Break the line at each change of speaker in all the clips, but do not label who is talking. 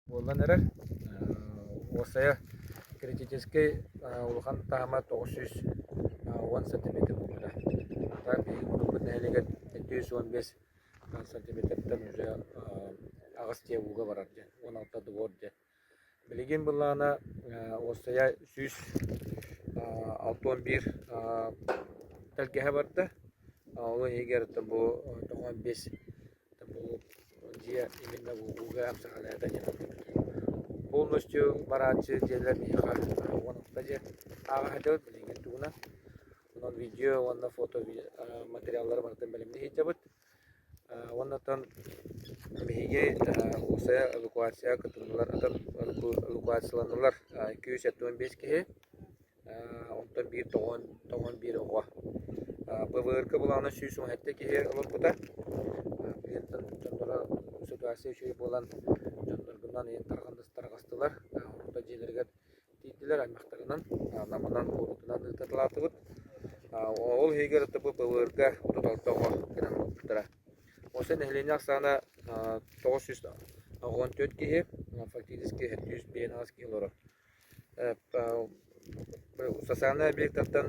Буолан эрэр, уопсайа критическэй улахан таама тоҕус сүүс уон сантиметр буолбута. Хата биһиги куруппут нэһилиэгэр сэттэ сүүс уон биэс сантиметртан уже аҕыс дьиэ ууга барар дьиэ, уон алта двор дьиэ. Билигин былаана уопсайа сүүс алта уон биир тэлгэһэ барда. Ол иһигэр бу тоҕус уон биэс Бу дьиэ именно ууга хапсаҕаны эта диэн ылбыппыт. Полностью барааччы дьиэлэр миэхэ уонахта дьиэ ааҕаһытыбыт билигин тугунан. Онон видео уонна фото материаллары барытын бэлэмнии сылдьабыт. Уоннаттан биһиги уопсайа эвакуация кытыннылар, эвакуацияланнылар, икки жүз сэттэ уон биэс киһи. Онтон биир тоҕон, тоҕон биир оҕо. ПВР-ка былаана сүүс уон сэттэ киһи олорбута. Клиенттан дьонноро ситуация үчүгэй буолан дьонноргунан ийэн тарҕандыс тарҕастылар. Орто дьиэлэригэр тиийдилэр аймахтарынан, Наманан, куорутунан ыытарлаатыбыт. Ол иһигэр ПВР-га отут алта оҕо кэлэн олорбуттара. Осы нэһилиэнньэ ахсаана тоҕус сүүс оҕо он төрт киһи, фактически сүүс биэс аҕыс киһи олорор. Сосана объектартан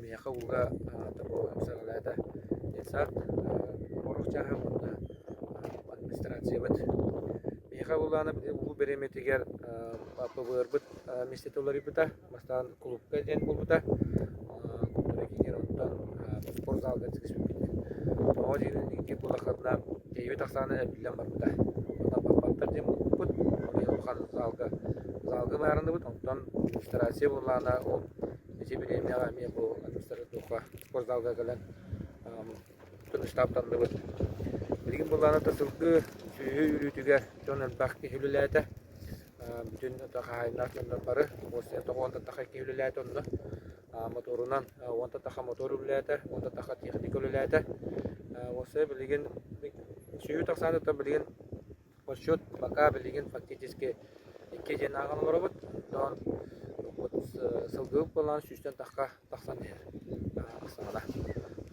миэхэ ууга саҕалаата детсад оруох чааһым уонна администрациябыт. Миэхэ улаанан уу бэриэмэтигэр ПВР-быт миэстэтэ уларыйбыта, бастаан кулуупка диэн буолбута. Бары кинилэриттэн спорт залга сыспиппит. Оҕо дьиэнэн икки улаханнаах эйбит ахсаана эбиллэн барбыта. Онно баппаттар диэн муппут, олой улахан залга залга баарыныбыт, онтон регистрация буоллаана ол эти бириэмэҕэ эмиэ бу атмосферный духха спорт залга кэлэн Тыныстаах тардыбыт. Билигин былаана да сылгы сүөһү үүрүүтүгэр дьон элбэх киһи үлэлээтэ. Бүтүн хаһаайыннаах дьоннор бары уопсайа тоҕо уонта атаха киһи үлэлээтэ онно. Мотуорунан уонта атаха мотуор үлэлээтэ, уонта атаха техника үлэлээтэ. Уопсайа билигин сүөһү тахсааны то билигин Отчет пока билигин фактически икки диэннээҕин оҥоробут, тоон вот сылгыбыт буоллаҕына сүүстэн тахха тахсан иһэр саҕана.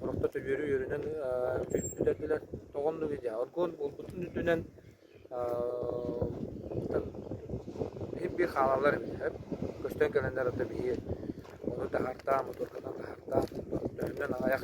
Орохто төбүөрү үөрүнэн бүтэрдилэр. Тоҕо оннугуй дии, оргуон булбутун үрдүнэн биир хаалалар көстөн кэлэннэр онно биһи ону таһартаан, моторканан таһартаан, төрүннэн аҕайах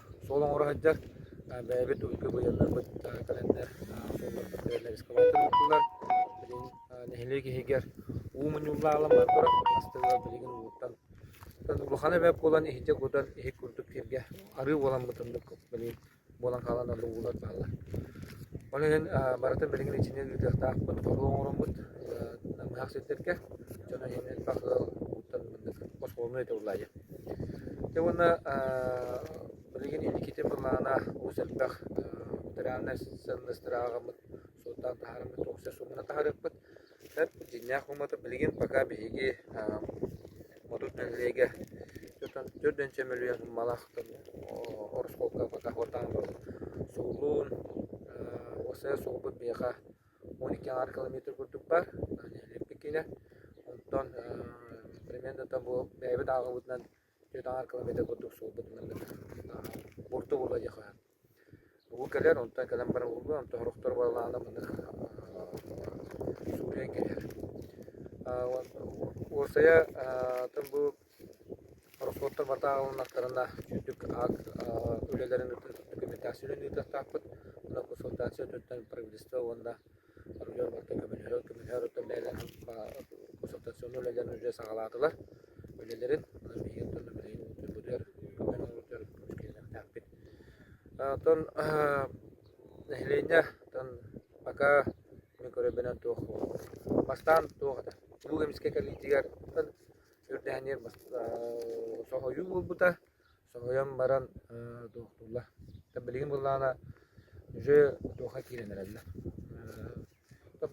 суол оҥоро сылдьар. Бэйэбит уйга быйылларбыт календарь суолларбыт бэйэлэрэ экскаватордууллар. Билигин нэһилиэк иһигэр уу мунньуллаалан бар турар. Астыгылар билигин ууттан улахан эбэп буолан иһитэ кутан иһит курдук киргэ арыы буолан бытыннык билигин буолан хаалан олу уулар бааллар. Ол иһин барытын билигин ичинэн ыытыахтаахпыт, торуу оҥороммут намыһах сирдэргэ дьоно иһинэн бах ыал ууттан мындык оскуоланы ытыллайы. Дьэ уонна билигин инникитин былаана олус элбэх федеральнай сыаннастыыр ааҕаммыт суолтаан таһаарыммыт туохся суумунан таһаарыахпыт. Сөп, дьиҥнээх ууммата билигин пока биһиги Мотур нэһилиэгэ түөрт уонча мөлүйүөн сууммалаах ороскуолка пока суолтаан турар. Суолун уопсайа суолбут биһиэхэ он икки аҥаар километр курдук бар үлэлэппит киинэ онтон перемендата бу бэйэбит ааҕыбытынан түөрт аҥаар километр курдук суолбут бурду була диэхэ бу кэлэр онтон кэлэн баран булуо онтон сорохтор балаана маны сууйан кэлэр уопсайа атын бу Ороскуоттар батааҕыланнахтарына үрдүк аак үлэлэрин документация үлэни ыытыахтаахпыт. Онон консультация өттүнэн правительство уонна ордук барыта көмөлөһөр көмөлөһөр оттон бэйэлэрин консультационнай үлэлэрин үлэ саҕалаатылар үлэлэрин быдыар көмөнү оҥордур көмүскэлиэхтээхпит. Оттон нэһилиэнньэ оттон пока мин көрөрбүнэн туох бастаан туох этэ. Улуу эмискэ кэлиитигэр Сөрдээниэр соһуйуу буолбута. Соһуйан баран доҕотторлор билигин буоллаҕына дьэ туохха киирэн эрэллэр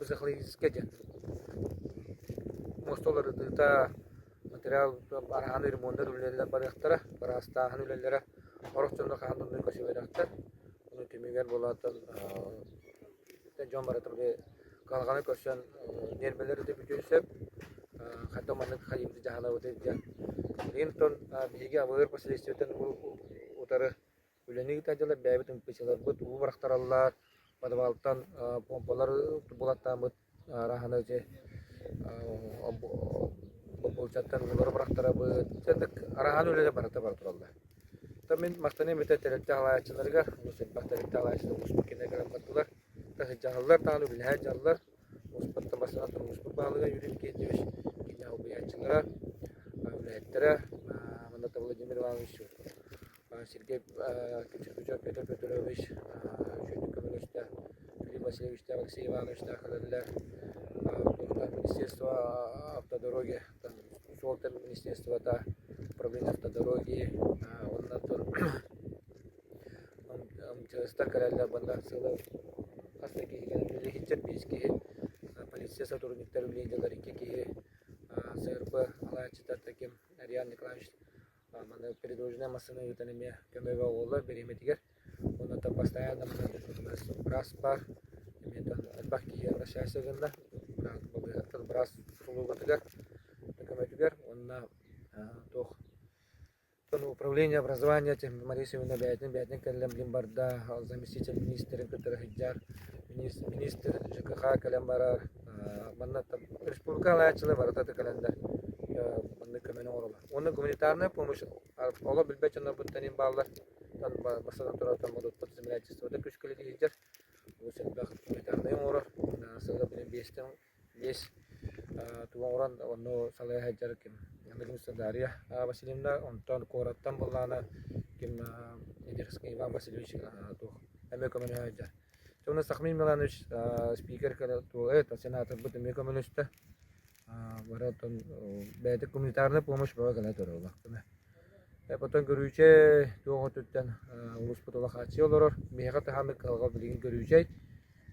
психологическай диэн мостолор ытыта материал араһаны ремонттар үлэлэрэ барыахтара быраастааһын үлэлэрэ орос дьоно хаһан да көсүбэтэхтэр ону түмүгэр буолааттар дьон барыта били кыһалҕаны көрсөн ньиэрбэлэри да бүтүөн сөп хата маннык хайыыбыты дьаһанабытый диэн билигин оттон биһиги АБР посольствотын утары үлэни ыытар дьалар бэйэбит МПС-ларбыт уу бырахтараллар подвалтан помпалар булаттааммыт Аараһана дьэ бобуолчаттан олору бырахтарабыт. Дьэ ытык араһаан үлэтэ барыта бара тураллар. Та мин махтаныам эбэтэр тэрилтэ аҕалааччыларыгар, олус элбэх тэрилтэ аҕалааччылар муспут кэннэ кэлэн бардылар. Таһырдьаһаллар, даҕаны үлэлэһэн дьаллар. Муспуттан бастаан муспут баһылыга Юрий Евгеньевич, киинэ убайааччылара, үлэһиттэрэ, манна Владимир Иванович сиргэ Кючукычев Петр Петрович, үчүгэйдик көмөлөстө, Филипп Васильевичтаах, Алексей Ивановичтаах кэлэллэр, туохтан Министерство автодороги, суолтан министерствота, управление автодороги уонна тор МЧСтар кэлэллэр манна сыла хас да киһи кэлэн үлэлэһиттэр биэс киһи, полиция сотрудниктар үлэлииллэр икки киһи, СРБ алааччытар таким Ариан Николаевич Манна передвижная массыына ыытан эмиэ көмөҕө буолла бириэмэтигэр. Уонна оттон бастайаан да манна быраас баар. Эмиэ оттон элбэх киһи обращайся гынна быраас балыыһаттан быраас услугатыгар, көмөтүгэр уонна туох ну управление образования этим Мария Семеновна бэйэтин бэйэтин кэлэн билим барда заместитель министрин кытары сылдьар министр ЖКХ кэлэн барар манна республика хаһаайаччылар барыта кэлэллэр маннык көмөнү оҥороллор уонна гуманитарная помощь олох билбэт дьоннорбуттан иһин бааллар бастатан турар модутпут землян күүскэлит иһдер улус элбэх гуманитарнай оҥорор сыга билин биэстен биэс туоҥуран онно салая хадьар ким Ангелюса Дарья Васильевна онтон куораттан быллаана ким Идерский Иван Васильевич туох эмэ көмөнө хадьар Тонна Сахмин Миланович спикер это сенатор быт эмиэ көмөлөстө бары оттон бэйэтэ гуманитарная помощь бөҕө гына көрөбүн. Потом көрүүчэ туох өттүттэн улууспут олох хааччыйа олорор. Биһиэхэ таһааммыт кыһалҕа билигин көрүүчэй.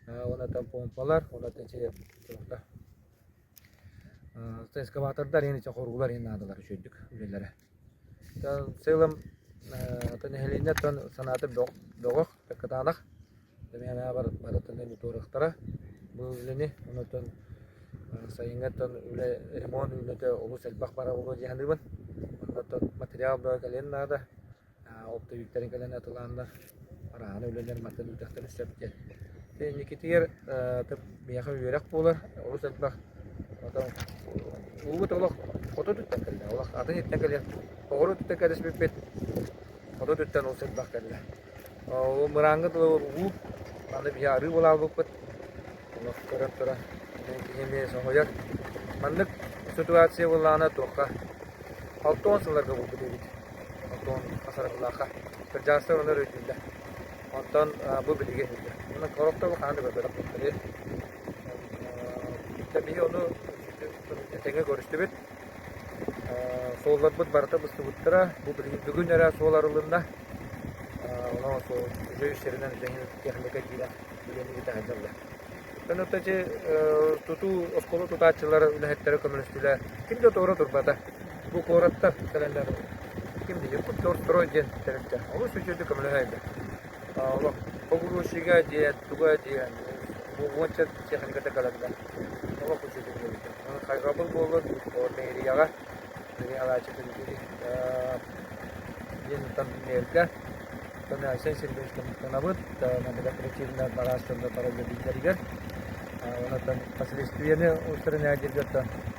Оннотон помпалар, оннотон чэ тобохто. Экскаватордар эн иче хоргулар эн наадалар үчөйдүк үлэлэрэ. Ытанцы ылым ата нэһилиэнньэ оттон санаата бөҕ бөҕөх кытаанах эмиэ санаабар барытын эмиэ туоруохтара бу үлэни онтон сайыҥҥы оттон үлэ ремонт үүнүүтэ олус элбэх бара буолуо дии саныыбын онно оттон материал бөҕө кэлиэн наада ол да үүттэрин кэлэн атылааннар Араһана үлэлээн матырыйаалдарын сөп диэн. Инникитигэр биһиэхэ үөрэх буолар, олус элбэх. Улуубут олох хоту өттүттэн кэллэ, олох атын сиртэн кэлэн оҕуруот өттүттэн кэтэспиппит, хоту өттүттэн олус элбэх кэллэ. Ол мырааҥҥа дылы улуу, аны биһи арыы буолаалбыппыт, олох көрөн туран киһи эмиэ соһуйар. Маннык ситуация буоллаҕына туохха алта уон сылларга булбут эбит. Антон Асаровлаахха кырдьаҕастар онор өйдүүллэр. Онтон бу билиги иһиллэр. Онон олох да хаһан да бөлөх буолтарыйа. Биһи ону тэҥэ көрүстүбүт. Суолларбыт барыта быстыбыттара. Бу билигин бүгүн эрэ суол арылынна. Онон үжө үстэринэн зенит техника киирэн үлэни итэҕэллэр. Өнөтөчү тутуу оскуола тутааччылар үлэһиттэрэ көмөлөстүлэр. Ким да туора турбата. Бу куораттар тэриллэр ким диир Купер строй диэн тэрилтэ олус үчүгэй көмөлөһөйбүт. Олох погрузчига диэн, туга диэн уонча техниката кэлэллэр. Олох үчүгэй диэбитэ. Ону хайҕабыл буоллар мэрияҕа мэрияҕааччы төлөбүрү диэнтэн мэрдэ Сен Сергеевич Тонабыт наблюгательный бараас дьонно бараллар биилэригэр онтон последствияны устранять дииргэр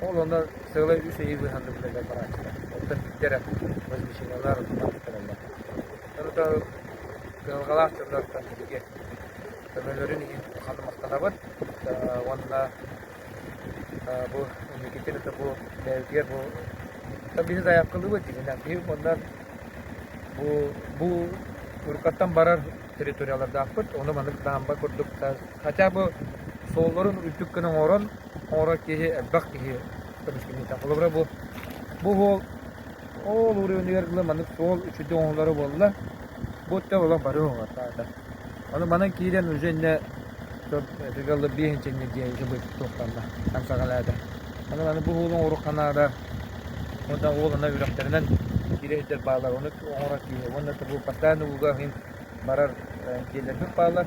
Ол онно сыалай үс ыйы быыһанныбытыгар барааччыта. Оттон иттэрэ развеселялар, маттараллар. Сорута кыһалҕалаах дьоннортон бииргэ көмөлөрүн иһин ханна махтанабыт уонна бу инникитин это бу бэйэбитигэр бу бизнес айаапкалыыбыт дигэнэ биһиги оннан бу бу уруккаттан барар территориялардаахпыт ону маннык даамба курдук хотя бы суолларын үрдүк гына оҥорон куорат киһи, элбэх киһи көмүскэммитэ. Холобура бу бу уол ол уровеныгар ылы маннык суол үчүгэй оҥоһуллара буолла. Бу өттө олох бары уһаатаата. Аны манан киирэн уже иннэ төрт этигэ ылы биэс инчэҥҥэ диэн иһэ быт туохтанна. Хамсаҕалаата. Аны маны бу уолу оҥоруохха наада. Уонна уол ана үрэхтэринэн киирэ сылдьар баалар. Ону оҥорор киһи. Уонна бу постоянно ууга иһин барар дьиэлэрбит баалар.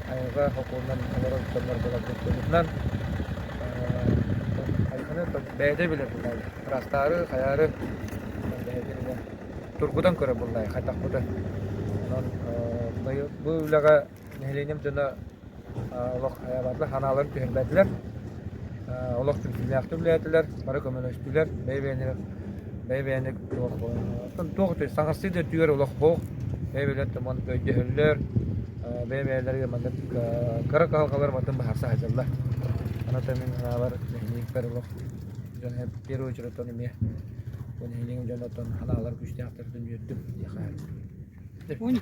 айылҕа холкуонунан олорор дьоннорбунабытын туһунан айылҕаны бэйэтэ билэр буллаайы ыраастаары хайаары бэйэтин эмиэ тургутан көрөр буллаайы хайдахпыта онон бу үлэҕэ нэһилиэнньэм дьоно олох айаабатылар санааларын түһэрбэтилэр олох түмсүүлээхтик үлэлээтилэр, бары көмөлөстүлэр, бэйэ-бэйэлэрэ бэйэ-бэйэни туох этэй, саҥарсыы да өттүгэр олохпох, бэйэ-бэйэлэрин маны өйдөһөллөр, бэйэ-бэйэлэригэр маннык кыра кыһалҕалар мантан быһаарса сылдьаллар. Ону мин санаабар нэһилиэкпэр олох дьон в первую очередь оттон эмиэ бу нэһилиэгин дьон оттон аналар күүстээхтэр дьон үөрдүм диэхэ